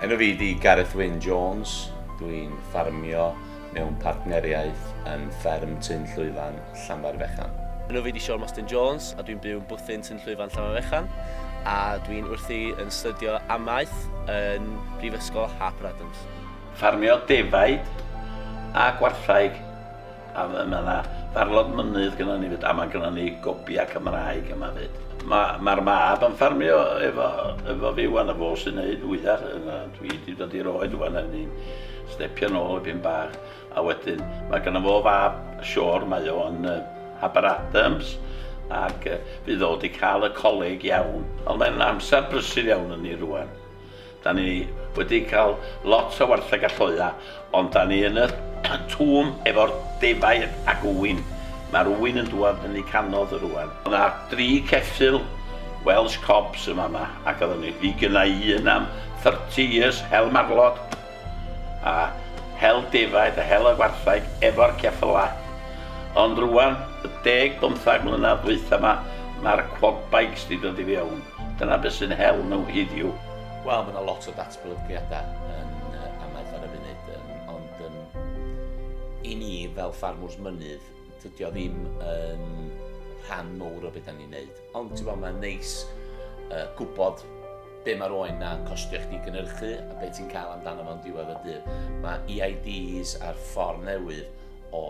Enw fi di Gareth Wyn Jones, dwi'n ffarmio mewn partneriaeth yn fferm Tyn Llwyfan, Llanfairfechan. Enw fi di Siôn Mostyn Jones a dwi'n byw yn bwthyn Tyn Llwyfan, Llanfairfechan a dwi'n wrthi yn astudio amaeth yn Brifysgol Harper Adams. Ffarmio defaid a gwarthraig. A mae 'na farlod mynydd gynnon ni 'fyd a mae gynnon ni gobiau Cymraeg yma 'fyd. Mae mae'r mab yn ffarmio efo efo fi 'wan a fo sy'n neud fwya yn yy dwi 'di dod i'r oed ŵan a ni'n stepio nôl dipyn bach a wedyn mae gynno fo fab Siôn mae o yn yy Aberadams ac yy fydd o 'di ca'l y coleg iawn ond mae'n amsar brysur iawn i ni rŵan. Da ni wedi cael lot o wartheg a lloia, ond da ni yn y twm efo'r defaid ac ŵyn. Mae'r ŵyn yn dŵad fyny canodd y rŵan. Oedd na dri ceffyl Welsh Cobs yn fama ac oedden ni, fi gynna i un am 30 years, hel marlod. A hel defaid a hel y gwartheg efo'r ceffylau. Ond rwan, y deg bymthag mlynedd ddwytha 'ma, ma'r quad bikes 'di dod i fiewn. Dyna be' sy'n hel nhw hiddiw. Wel, ma' 'na lot o datblygiada yn yy amaeth ar y funud yym ond yym i ni fel ffarmwrs mynydd, tydi o ddim yn rhan mowr o be' 'dan ni'n neud. Ond ti'n gwybod, mae'n neis uh, gwybod be mae'r oen na'n costio chdi gynhyrchu a be ti'n cael amdano fo'n diwedd y dydd. Mae EIDs a'r ffordd newydd o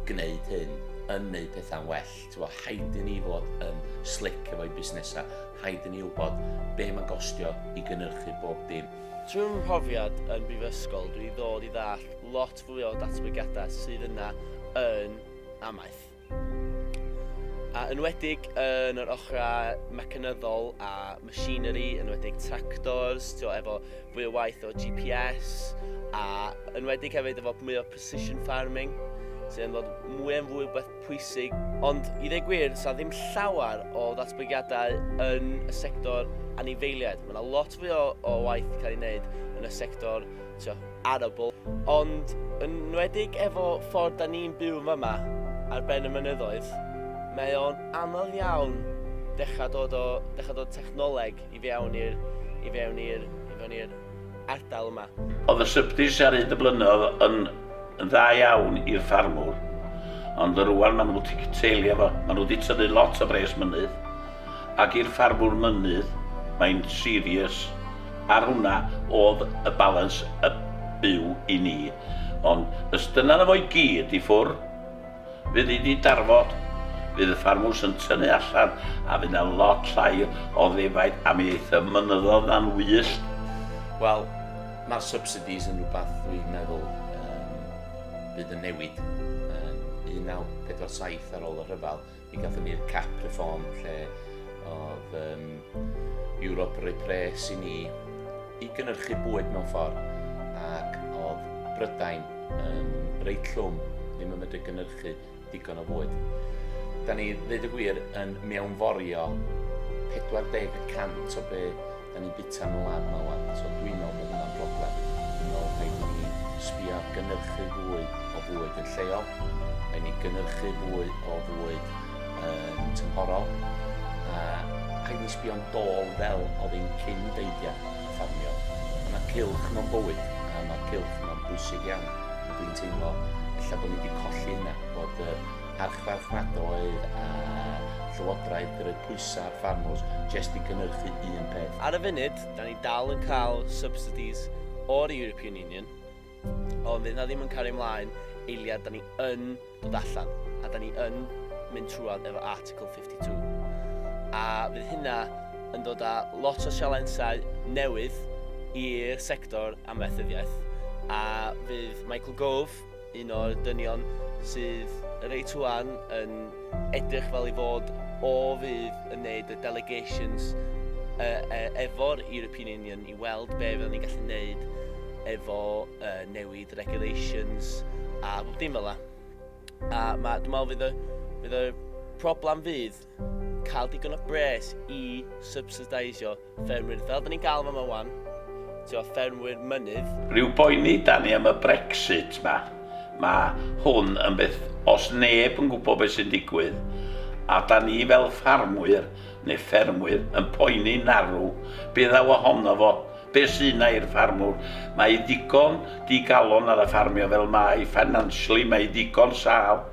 gwneud hyn yn gwneud pethau'n well. Ti'n gwybod, haid i ni fod yn slick efo'i busnesau, haid i ni wybod be mae'n gostio i gynhyrchu bob dim. Trwy fy mhrofiad yn brifysgol, dwi wedi dod i ddall lot fwy o datblygiadau sydd yna yn amaeth. A enwedig yn yr ochrau mecanyddol a machinery, enwedig tractors, tio, efo fwy o waith o GPS, a enwedig hefyd efo mwy o precision farming, sydd yn fod mwy yn fwy beth pwysig. Ond i ddeg gwir, sa ddim llawer o ddatblygiadau yn y sector anifeiliaid. Mae yna lot fwy o, o waith cael ei wneud yn y sector tio, arable. Ond yn nwedig efo ffordd da ni'n byw yn fama ar ben y mynyddoedd, mae o'n anodd iawn dechrau dod o, dechrau dod technoleg i fewn i'r, i fewn i'r, i fewn i'r ardal yma. Oedd y swpdis ar hyd y blynyddoedd yn yn dda iawn i'r ffarmwr, ond rwan ma' nhw wedi cytseilio fo, ma' nhw wedi tynnu lot o bres mynydd, Ac i'r ffarmwr mynydd, mae'n serious, ar hwnna o'dd y balans y byw i ni, ond os dyna fo i gyd i ffwr, fydd hi 'di darfod, fydd y ffarmwrs yn tynnu allan a fydd 'na lot llai o ddefaid a mi eith y mynyddodd 'na'n wyllt. Wel, ma'r subsidies yn rwbath dwi'n meddwl yym bydd yn newid yn 1947 ar ôl y rhyfel. Mi gatho ni'r cap reform lle oedd um, Europe yn rhoi pres i ni i gynnyrchu bwyd mewn ffordd ac oedd Brydain yn reit llwm ddim yn medru gynnyrchu digon o fwyd. Da ni, ddweud y gwir, yn mewnforio 40% o be Dan ni'n bita yn y wlad yma wan, so dwi'n meddwl bod hwnna'n broblem. Dwi'n meddwl rhaid i ni sbio ar gynyrchu fwy o fwyd yn lleol, rhaid ni gynyrchu fwy o fwyd yn tymhorol, a rhaid ni sbio'n dôl fel oedd ein cyn deidiau ffarmio. Mae yna cylch mewn bywyd, a mae'r cylch yma'n bwysig iawn, a dwi'n teimlo ella bod ni wedi colli hynna, bod yr archfarchnadoedd a llywodraeth yn rhoi pwysau ar ffarmwrs jest i gynhyrchu un peth. Ar y funud, da ni dal yn cael subsidies o'r European Union, ond fydd na ddim yn cario mlaen eiliad da ni yn dod allan, a da ni yn mynd trwad efo Article 52. A fydd hynna yn dod â lot o sialensau newydd i'r sector amaethyddiaeth, a fydd Michael Gove, Un o'r dynion sydd reit ŵan yn edrych fel ei fod o fydd yn neud y delegations efo'r European Union i weld be fyddan ni'n gallu neud efo newid regulations a bob dim fel 'na. A ma' dwi me'wl fydd y fydd y problem fydd cael digon o bres i subsideisio ffermwyr, fel da ni'n gael fama wan, ti'n o ffermwyr mynydd. Rhyw boeni da ni am y Brexit ma. Mae hwn yn beth os neb yn gwybod beth sy'n digwydd, a da ni fel ffarmwyr neu ffermwyr yn poeni narw be ddaw ohono fo, be sy yna i'r ffarmwr. Mae hi ddigon digalon ar y ffarmio fel mae, financially mae hi ddigon sâl.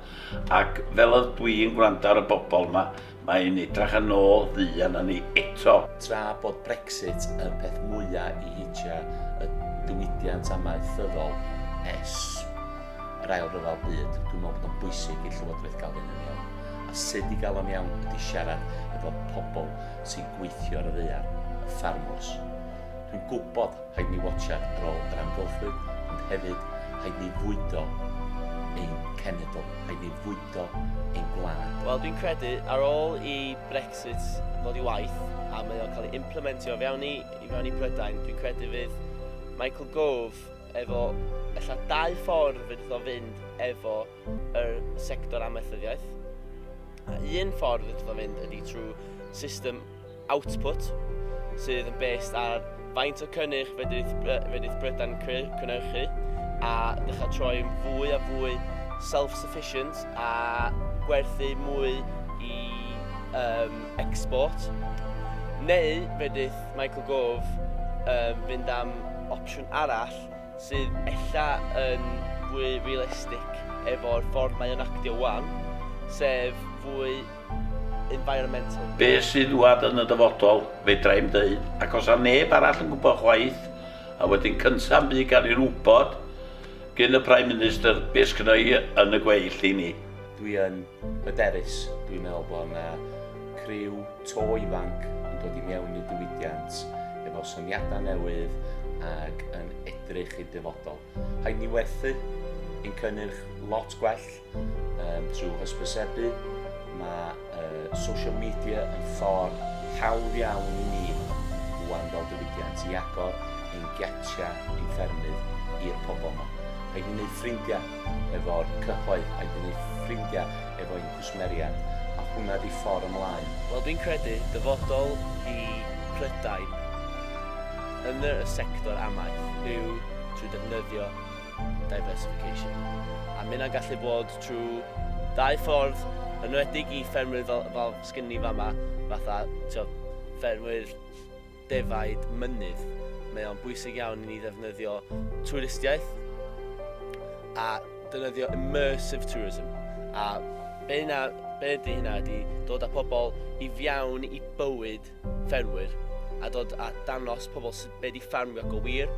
Ac fel oedd dwi'n gwrando ar y bobl 'ma, mae hi'n edrach yn ôl ddu arna ni eto. Tra bod Brexit yn peth mwya i heitya y diwydiant amaethyddol es yr ail ryfel byd, dwi'n meddwl bod o'n bwysig i'r Llywodraeth gael hyn yn iawn. A sut i gael o'n iawn ydy siarad efo pobl sy'n gweithio ar y ddaear, y ffarmwrs. Dwi'n gwybod Rhaid ni watsiad ar ôl yr amgylchfyd, ond hefyd rhaid ni fwydo ein cenedl, rhaid ni fwydo ein gwlad. Wel, dwi'n credu, ar ôl i Brexit ddod i waith, a mae o'n cael ei implementio i fewn i, i fewn i Brydain, dwi'n credu fydd Michael Gove efo ella dau ffordd fydd iddo fynd efo yr sector amaethyddiaeth. A un ffordd fydd iddo fynd ydy trwy system output, sydd yn based ar faint o cynnyrch fedrith, fedrith Brydain cynnyrchu a dechrau troi'n fwy a fwy self-sufficient a gwerthu mwy i um, export. Neu fedrith Michael Gove um, fynd am opsiwn arall sydd ella yn fwy realistig efo'r ffordd mae o'n actio wan, sef fwy environmental. Be sydd wad yn y dyfodol, fedra i'm ddeud, ac os a neb arall yn gwybod chwaith, a wedyn cyntaf bu gan i'r wybod gyn y Prime Minister be sgynno i yn y gweill i ni. Dwi yn hyderus, dwi'n meddwl bod yna criw to ifanc yn dod i mewn i'r diwydiant efo syniadau newydd ac yn edrych i'r dyfodol. Rhaid ni werthu ein cynnyrch lot gwell, Um, trwy hysbysebu, mae uh, social media yn ffordd hawdd iawn i ni rwan fel diwydiant i agor ein giatiau, ein ffermydd i'r pobl yma. Rhaid i ni wneud ffrindiau efo'r cyhoedd, rhaid i ni wneud ffrindiau efo'n cwsmeriad, a hwnna di ffordd ymlaen. Wel, dwi'n credu dyfodol i Prydain yn y sector amaeth yw trwy defnyddio diversification. A mae hynna'n gallu bod trwy ddau ffordd, yn enwedig i ffermwyr fel, fel sgyn ni fama, fatha tio, ffermwyr defaid mynydd. Mae o'n bwysig iawn i ni ddefnyddio twristiaeth a defnyddio immersive tourism. A be yna, be ydy hynna ydy dod â pobl i fiawn i bywyd ffermwyr a dod a danos pobl sydd wedi ffarmio go wir.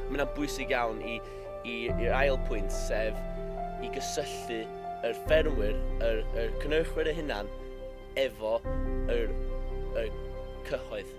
Mae hynna'n bwysig iawn i, i, i'r ail pwynt, sef i gysylltu yr ffermwyr, yr, yr cynhyrchwyr eu hunan, efo yr, y cyhoedd.